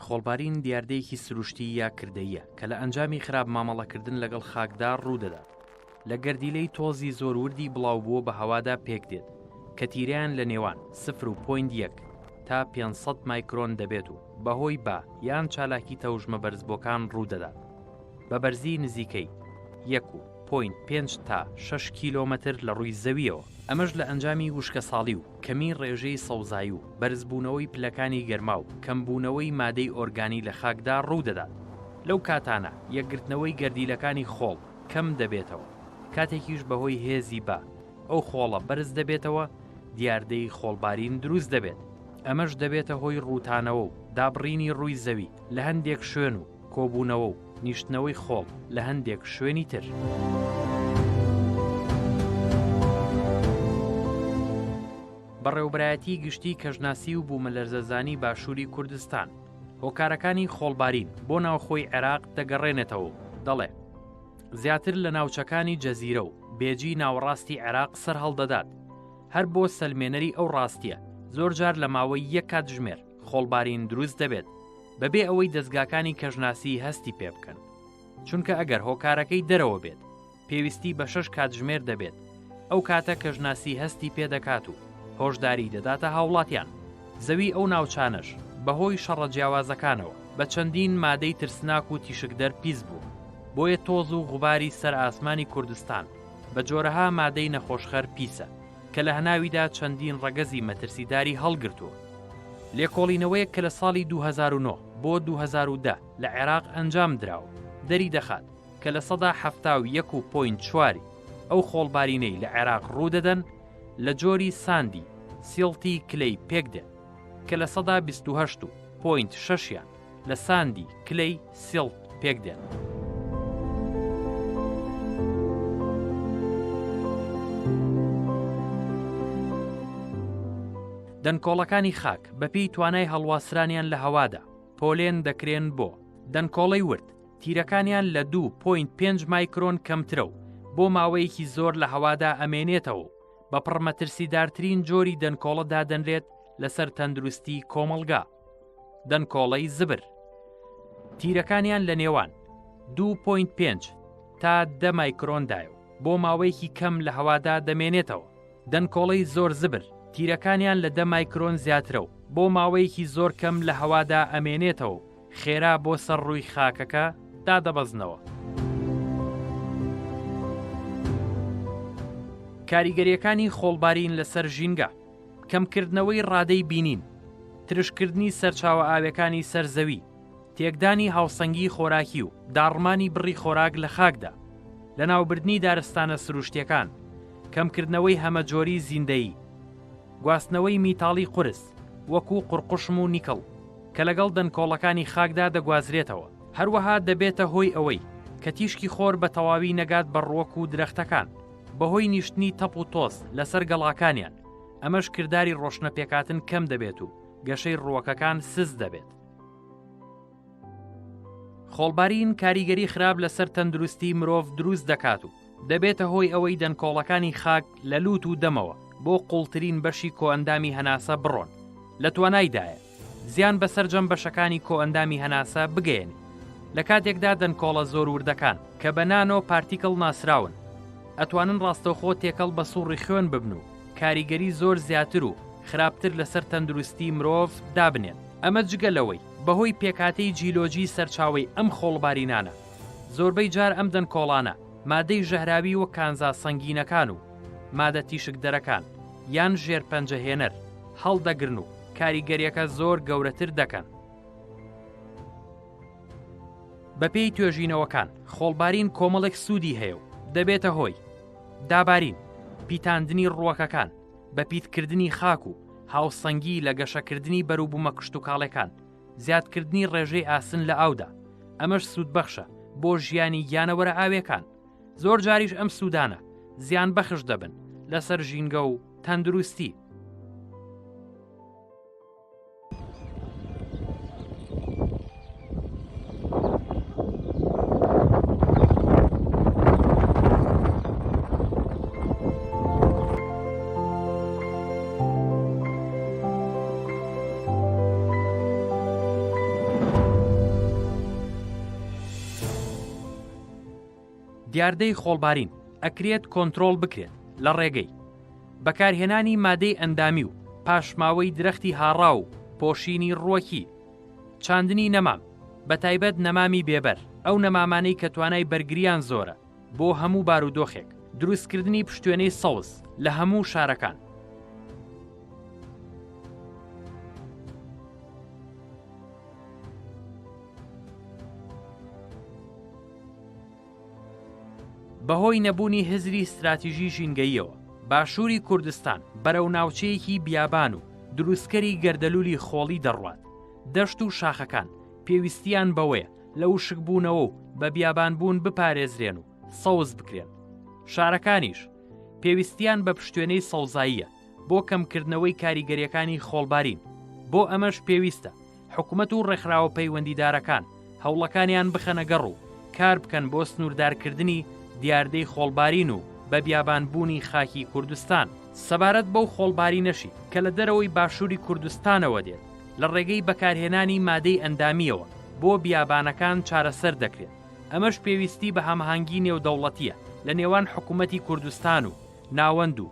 خۆڵبارین دیاردەیەکی سروشتی یا کردەیە کە لە ئەنجامی خراپ مامەڵەکردن لەگەڵ خاکدا ڕوودەدات لە گەردیلەی تۆزی زۆر وردی بڵاو بووە بە هەوادا پێک دێت کە تیرەیان لە نێوان سفر و پوین یەک تا 500 مایکرۆن دەبێت و بەهۆی با یان چالاکی تەوژمە بەرزبووەکان ڕوودەدات بە بەرزی نزیکەی یەک و پۆینت پێنج تا شەش کیلۆمەتر لە ڕووی زەویەوە ئەمەش لە ئەنجامی وشکەساڵی و کەمی ڕێژەی سەوزایی و بەرزبوونەوەی پلەکانی گەرما و کەمبوونەوەی مادەی ئۆرگانی لە خاکدا ڕوو دەدات لەو کاتانە یەکگرتنەوەی گەردیلەکانی خۆڵ کەم دەبێتەوە کاتێکیش بەهۆی هێزی با ئەو خۆڵە بەرز دەبێتەوە دیاردەی خۆڵبارین دروست دەبێت ئەمەش دەبێتە هۆی ڕووتانەوە و دابڕینی ڕووی زەوی لە هەندێک شوێن و کۆبوونەوە و نیشتنەوەی خۆڵ لە هەندێک شوێنی تر. بەڕێوبەرایەتی گشتی کەژناسی و بوومەلەرزەزانی باشووری کوردستان هۆکارەکانی خۆڵبارین بۆ ناوخۆی عێراق دەگەڕێنێتەوە و دەڵێ زیاتر لە ناوچەکانی جەزیرە و بێجی ناوەڕاستی عێراق سەرهەڵدەدات هەر بۆ سەلمێنەری ئەو ڕاستیە زۆرجار لە ماوەی یەک کاتژمێر خۆڵبارین دروست دەبێت بەبێ ئەوەی دەستگاکانی کەژناسی هەستی پێ بکەن چونکە ئەگەر هۆکارەکەی دەرەوە بێت پێویستی بە شەش کاتژمێر دەبێت ئەو کاتە کەژناسی هەستی پێ دەکات و هۆشداری دەداتە هاوڵاتیان زەوی ئەو ناوچانەش بەهۆی شەڕە جیاوازەکانەوە بە چەندین مادەی ترسناک و تیشکدەر پیس بوو بۆیە تۆز و غوباری سەر ئاسمانی کوردستان بە جۆرەها مادەی نەخۆشخەر پیسە کە لە هەناویدا چەندین ڕەگەزی مەترسیداری هەڵگرتووە. لێکۆڵینەوەیەک کە لە ساڵی دوو هەزار و نۆ بۆ دوو هەزار و دە لە عێراق ئەنجام دراوە، دەریدەخات کە لە سەدا حەفتا و یەک و پۆینت چوار ی ئەو خۆڵبارینەی لە عێراق ڕوودەدەن لە جۆری ساندی سیڵتی کلەی پێکدێن، کە لە سەدا بیست و هەشت و پۆینت شەش یان. لە ساندی، کلەی، سیڵت، پێک دێن. دەنکۆڵەکانی خاک بەپێی توانای هەڵواسرانیان لە هەوادا پۆلێن دەکرێن بۆ دەنکۆڵەی ورد تیرەکانیان لە 2.5 مایکرۆن کەمترە و بۆ ماوەیەکی زۆر لە هەوادا ئەمێنێتەوە و بە پڕمەترسیدارترین جۆری دەنکۆڵە دادەنرێت لەسەر تەندروستی کۆمەڵگا دەنکۆڵەی زبر تیرەکانیان لە نێوان 2.5 تا دە مایکرۆندایە و بۆ ماوەیەکی کەم لە هەوادا دەمێنێتەوە دەنکۆڵەی زۆر زبر تیرەکانیان لە دە مایکرۆن زیاترە و بۆ ماوەیەکی زۆر کەم لە هەوادا ئەمێنێتەوە خێرا بۆ سەر ڕووی خاکەکە دادەبەزنەوە. کاریگەریەکانی خۆڵبارین لەسەر ژینگە کەمکردنەوەی ڕادەی بینین، ترشکردنی سەرچاوە ئاویەکانی سەر زەوی، تێکدانی هاوسەنگیی خۆراکی و داڕمانی بڕی خۆراک لە خاکدا، لەناوبردنی دارستانە سروشتیەکان، کەمکردنەوەی هەمەجۆریی زیندەیی، گواستنەوەی میتاڵی قورس وەکو قوڕقوشم و نیکڵ کە لەگەڵ دەنکۆڵەکانی خاکدا دەگوازرێتەوە، هەروەها دەبێتە هۆی ئەوەی کە تیشکی خۆر بە تەواوی نەگات بە ڕوەک و درەختەکان. بەهۆی نیشتنی تەپ و تۆز لەسەر گەڵاکانیان، ئەمەش کرداری ڕۆشنەپێکهاتن کەم دەبێت و گەشەی ڕووەکەکان سست دەبێت. خۆڵبارین کاریگەری خراپ لەسەر تەندروستی مرۆڤ دروست دەکات و دەبێتە هۆی ئەوەی دەنکۆڵەکانی خاک لە لووت و دەمەوە بۆ قووڵترین بەشی کۆئەندامی هەناسە بڕۆن، لە توانایدایە زیان بە سەرجەم بەشەکانی کۆئەندامی هەناسە بگەیەنێ. لە کاتێکدا دەنکۆڵە زۆر وردەکان، کە بە نانۆ پارتیکڵ ناسراون، ئەتوانن ڕاستەوخۆ تێکەڵ بە سوڕی خوێن ببن و کاریگەری زۆر زیاتر و خراپتر لەسەر تەندروستی مرۆڤ دابنێن. ئەمە جگە لەوەی بەهۆی پێکهاتەی جیولۆجی سەرچاوەی ئەم خۆڵبارینانە، زۆربەی جار ئەم دەنکۆڵانە مادەی ژەهراوی وەک کانزا سەنگینەکان و مادە تیشکدەرەکان یان ژێرپەنجەهێنەر هەڵدەگرن و کاریگەریەکە زۆر گەورەتر دەکەن. بەپێی توێژینەوەکان خۆڵبارین کۆمەڵێک سوودی هەیە و دەبێتە هۆی دابارین پیتاندنی ڕووەکەکان بە پیتکردنی خاک و هاوسەنگی لە گەشەکردنی بەروبوومە کشتتوکاڵەکان زیادکردنی ڕێژەی ئاسن لە ئاودا ئەمەش سوودبەخشە بۆ ژیانی گیانەوەرە ئاوێکان زۆر جاریش ئەم سوودانە زیان بەخش دەبن لەسەر ژینگە و تەندروستی دیاردەی خۆڵبارین ئەکرێت کۆنترۆڵ بکرێت لە ڕێگەی، بەکارهێنانی مادەی ئەندامی و پاشماوەی درەختی هاڕا و پۆشینی ڕووەکی، چاندنی نەمام، بەتایبەت نەمامی بێبەر، ئەو نەمامانەی کە توانای بەرگرییان زۆرە بۆ هەموو بارودۆخێک، دروستکردنی پشتوێنەی سەوز لە هەموو شارەکان. بەهۆی نەبوونی هزری ستراتیژی ژینگەییەوە، باشووری کوردستان بەرەو ناوچەیەکی بیابان و دروستکەری گەردەلوولی خۆڵی دەڕوات، دەشت و شاخەکان پێویستیان بەوەیە لە وشکبوونەوە و بە بیابانبوون بپارێزرێن و سەوز بکرێن، شارەکانیش پێویستیان بە پشتوێنەی سەوزاییە بۆ کەمکردنەوەی کاریگەریەکانی خۆڵبارین، بۆ ئەمەش پێویستە حکومەت و ڕێکخراوە پەیوەندیدارەکان هەوڵەکانیان بخەنە گەڕ و کار بکەن بۆ سنووردارکردنی دیاردەی خۆڵبارین و بە بیابانبوونی خاکی کوردستان. سەبارەت بەو خۆڵبارینەشی کە لە دەرەوەی باشووری کوردستانەوە دێت، لە ڕێگەی بەکارهێنانی مادەی ئەندامییەوە بۆ بیابانەکان چارەسەر دەکرێت، ئەمەش پێویستی بە هەماهەنگی نێودەوڵەتییە لە نێوان حکومەتی کوردستان و ناوەند و